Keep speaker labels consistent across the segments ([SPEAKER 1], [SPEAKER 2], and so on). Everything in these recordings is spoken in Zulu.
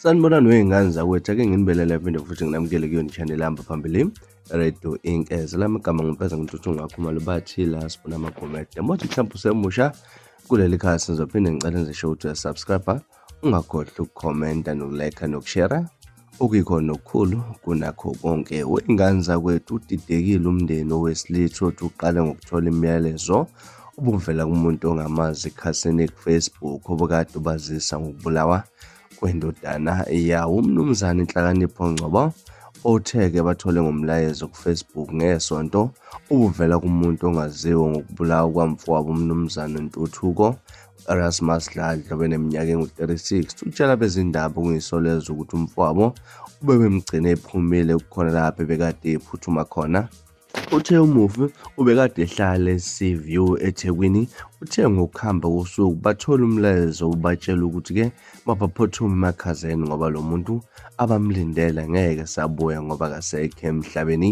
[SPEAKER 1] sanibonani wey'ngane zakwethu ake nginibelele phinde futhi nginamukele kuyona i-channel hamba phambili radio inkeze lami igama ngimfeza ngintuthu ngakho malubathi la sibona amagomede mothi mhlawumbe usemusha kuleli khaya sizophinde ngicele ngisho ukuthi uyasubscribe Ungakhohlwa ukukhomenta nokulekha nokushera okuyikhona okukhulu kunakho konke. Wey'ngane zakwethu udidekile umndeni owesilisa othi uqale ngokuthola imiyalezo ubuvela kumuntu ongamazi ekhasini kufacebook obukade ubazisa ngokubulawa kwendodana yawo umnumzane inhlakanipho ngcobo othe-ke bathole ngomlayezo kufacebook ngesonto ubuvela kumuntu ongaziwa ngokubulawa kwamfowabo umnumzane ntuthuko Erasmus Dladla obeneminyaka engu-36 utshela abezindaba okungisolezwa ukuthi umfowabo ubebemgcine ephumile kukhona lapho ebekade ephuthuma khona Uthe umufi ubekade ehlala e-Seaview eThekwini, uthe ngokuhamba kosuku bathola umlayezo ubatshela ukuthi-ke mabaphuthume emakhazeni ngoba lo muntu abamlindele ngeke sabuya ngoba akasekho emhlabeni.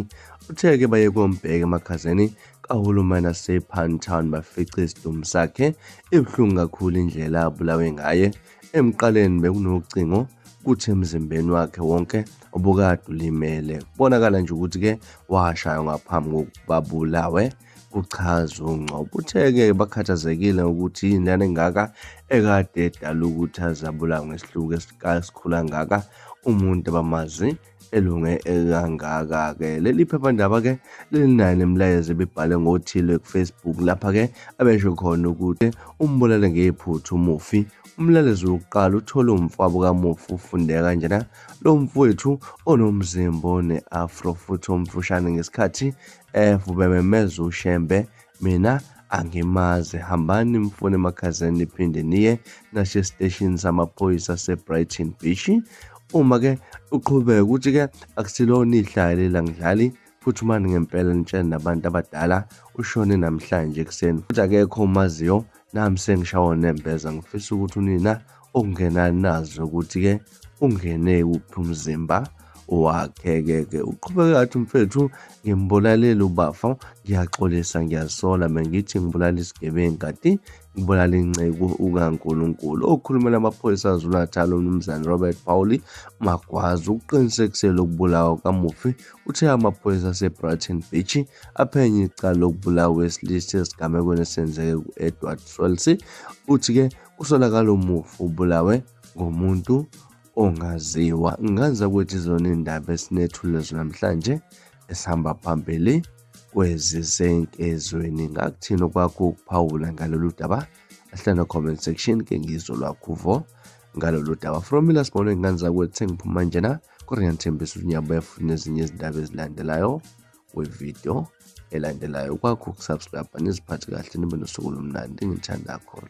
[SPEAKER 1] Uthe-ke baye kombheka emakhazeni kahulumeni asePantown bafice isidumbu sakhe. Ibuhlungu kakhulu indlela abulawe ngaye. Emqaleni bekunocingo kuthi emzimbeni wakhe wonke obukade ulimele. Kubonakala nje ukuthi-ke washaywa ngaphambi kokuba bulawe kuchaza uNgcobo. Uthe-ke bakhathazekile ukuthi yini lana engaka ekade edala ukuthi azabulawe ngesihluku esikhulu angaka umuntu abamazi elunge kangaka-ke leli phephandaba-ke lilinayo nemilayezo ebibhale ngothile kufacebook lapha-ke abesho khona ukuthi umbulale ngephutha umufi umlalezi wokuqala uthole umfabo kamufi ufundeka kanjena lo mfowethu onomzimba one-afro futhi omfushane ngesikhathi evubememeza ushembe mina angimazi hambani mfune emakhazeni niphinde niye nasho esiteshini samaphoyisa sebrighton beach uma ke uqhubeka ukuthi-ke akusilona ihlaya lelangidlali futhi umani ngempela nitshele nabantu abadala ushone namhlanje ekuseni futhi akekho umaziyo nami sengishawa nembeza ngifisa ukuthi unina ungena nazo ukuthi-ke ungene kuphi umzimba wakhe-ke-ke uqhubeka athi mfethu ngimbulalele ubafa ngiyaxolisa ngiyasola mengithi ngibulala isigebengu kati ngibulala inceku ukankulunkulu okhulumela amaphoyisa azunathala umnumzane robert pauli magwazi ukuqinisekisela ukubulawa kamufi uthe amaphoyisa asebrighton beach aphenye icala lokubulawa wesilisa esigamekweni esenzeke ku-edward swelsey uthi-ke Kusolakala umufi ubulawe ngomuntu ongaziwa. Ngazi ukuthi izona iy'ndaba esinethule namhlanje esihamba phambili kwezisenkezweni. Ngakuthini okwakho ukuphawula ngalolu daba? Ahlala comment section ke ngizwe lwakho vo ngalolu daba. From mina sibone ngane zakwethu sengiphuma njena. Kodwa ngiyathembisa ukuthi ngiyabuya futhi nezinye izindaba ezilandelayo. wevidiyo elandelayo kwakho ukusubscribe niziphathe kahle nibe nosuku lomnandi ngithanda khona